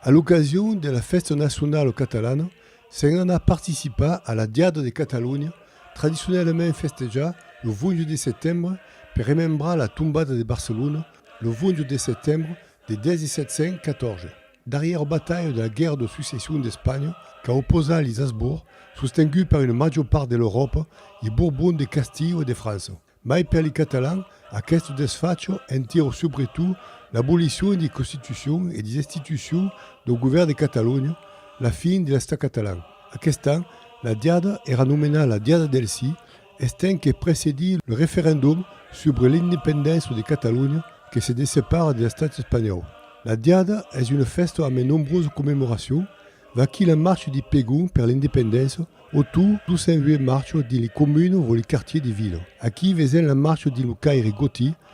A l'ocasion de la fèsta nacionala catalana, se'n anà participar a la Diada de Catalonha, tradicionalament festejada lo 20 de setembre per remembrar la tombada de Barcelona lo 20 de setembre de 1714, darrièra batalha de la Guèrra de Succession d'Espanha qu'a oposat li Hasbourg, sostengut per una major part de l'Euròpa, li Bourbons de Castilha e de França. Mai per li Catalans, aqueste desfacho entira subretot l'abolicion li Constitucion e li destitucion lo govèrn de Catalonha, la fin de l'Estat catalan. Aquest an, la diada èra nomenada la Diada del Sí Estenc que precedís lo referendum subre l'independença de Catalonha que se dessepara de l'estat espanhòu. La diada es una fèsta ambe nombrosa commemoracion, vaquí la marcha de Pegon per l'independença o tot doçenvuèt marcha dins le comun o le quartier de vila. Aquí vesèm la marcha dins lo caire gotí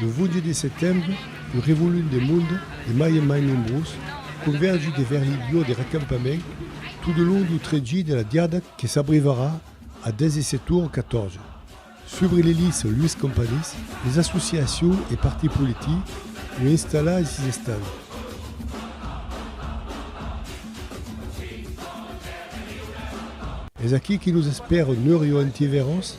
Lo 22 de setembre, lo revolut de monde, de mai en mai nombrós, convergi devers li lieu de recampament tot de long du trajit de la diada que s'abrivarà a 17 ora 14. Subre le lice Luis Companys, les associacions e partits politics lo installan e sis estan. Es aquí que nos espèra Nurio Antiveros,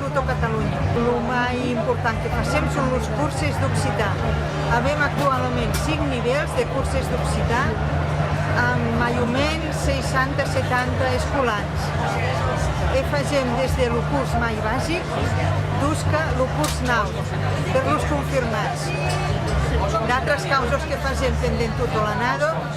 tota Catalonha. Lo mai important que fasèm son los curses d'occitan. Avèm actualament cinc nivèls de curses d'occitan amb mai o mens 60-70 escolans e fasèm des de lo curs mai basic dusca lo curs naut per los confirmats. D'autras causas que fasèm pendent tota l'annada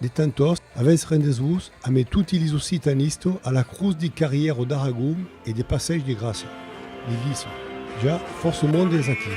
De tant tost, avètz rendètz-vos amé toti lis occitanistes a la crotz de carrièr o d'Aragon e de passèish de Gràcia. Li disse, Ja, fòrça monde es aquí.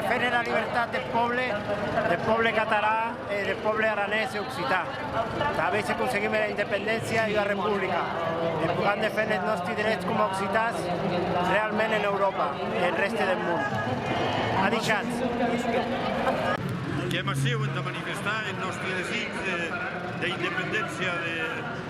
Defendre la libertat deth pòble, deth pòble catalan e deth pòble aranés e occitan. Tà veir se conseguim era independéncia e ua republica e pogam defendre eth nòsti drets coma occitans realment en Euròpa e en rèste deth mon, a dichat. Qu'èm aciu entà manifestar eth nòsti desig d'independéncia de.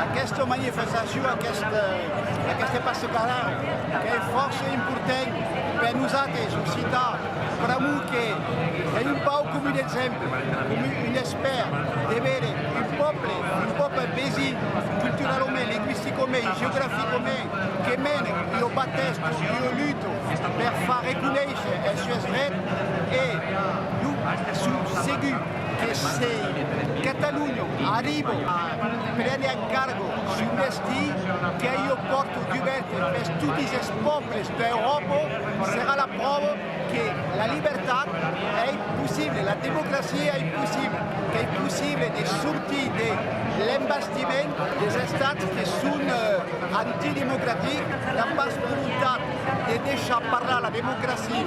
Aquesta manifestacion, aquesta passacada qu'es fòrça important per nosates occitans, pr'amor que es un pauc com un exemple, com un espèr de veire un pòble, un pòble vesin culturalament, lingüisticament, geograficament, que mèn ua batèsta, ua luta per far reconéisher es sues drets e lo sut segur. que se Catalunya arriba a prene en cargo son destí, qu'ei ua pòrta dubèrta pes totis es pòbles d'Euròpa, serà la pròva que la libertat ei possible, la democracia ei possible, qu'ei possible de sortir de l'embastiment des estats que son antidemocratics, n'an pas volontat de deishar parlar la democracia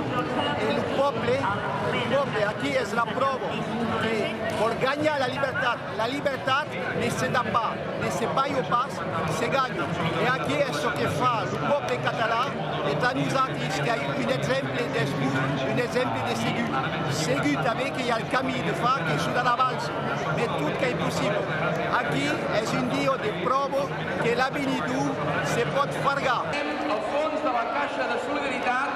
e lo pòble. Pr'amor-de-Déu, aquí es la pròva que vòl ganhar la libertat. La libertat ne se da pas, ne se balha pas, se ganha. E aquí es çò que fa lo pòble catalan e plan nosautres que ai un exemple dens vos, un exemple de segut. Segut tanben que i a el camí de far que s'o da davals, mai tot qu'ei possible. Aquí es un dieu de pròva que l'avenidor se pòt fargar. Al fons de la caisha de solidaritat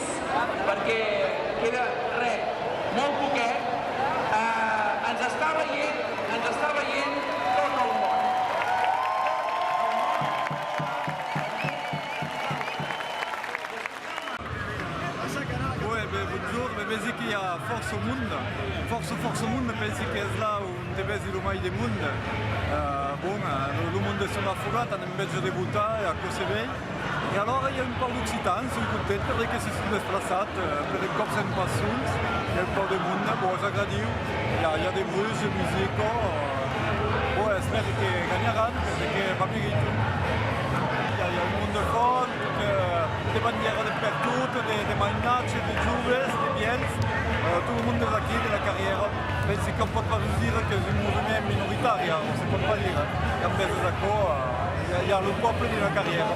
Res, perque queda re, molt poquet, ens està veient, ens està veient tot el món. El món està pendent de nosaltres. Boe, be, bonjour, me vesi que i a fòrça monde, fòrça, fòrça monde, pensi que es là on te vesi lo mai de monde. Bon, lo monde es una fogata, ne'n vegi de botar e aquò se vei. E alora i a un pauc d'occitans son contents per de que se son desplaçat per un còp sens passions i a un pauc de monde, bon es agradiu, i a i a de bruits de musica, bon espèri que ganharàn per de que va meritan. I a i a un monde fòrt, de bandièra de pertot, de mainatge, de joves, de vièlhs, tot lo monde es aquí de la carrièra. Pensi qu'on pòt pas dus dire qu'es un movement minoritari, on se pòt pas dire, e en mès d'aquò i a lo pòple d'una carrièra.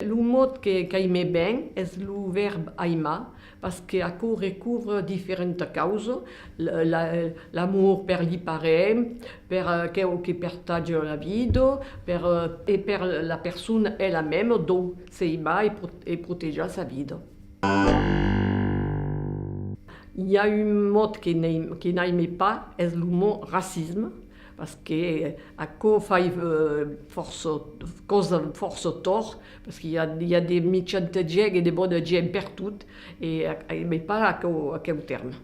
Lo mot que caimé ben es lo vèrb aimar. Pas que aquò recubra diferenta causa, l'amor per li parents, per aqueu que pertatge la vida, per e per la persona ela mèma dau s'aimar e protejar sa vida. I a un mot que n'aime pas, es lo mot racisme, pas que aquò fai fòrça causa fòrça tòrt, Parce que i a de michanta gènt e de bona gènt pertot e mai pas aqueu tèrme.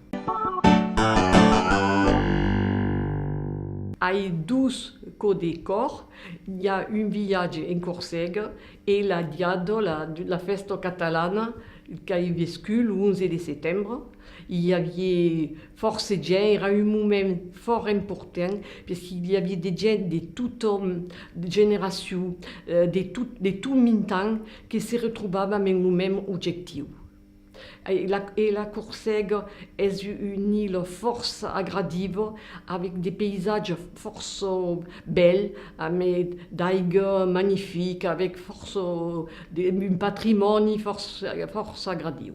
Ai dus cò de còr, i a un viatge en Corsega e la diada de la fèsta catalana qu'ai vescut lo 11 de setembre, i avié Fòrça gents, èra un moment fòrt important, pes que i aviá de gents de totòm, de generacion, de tot, de tot mintan que se retrobàvem en lo mèm objectiu. E la Corsèga es un ila fòrça agradiva, avèc de païsatges fòrça bèls, amb d'aiga magnifica, avèc fòrça, un patrimòni fòrça agradiu.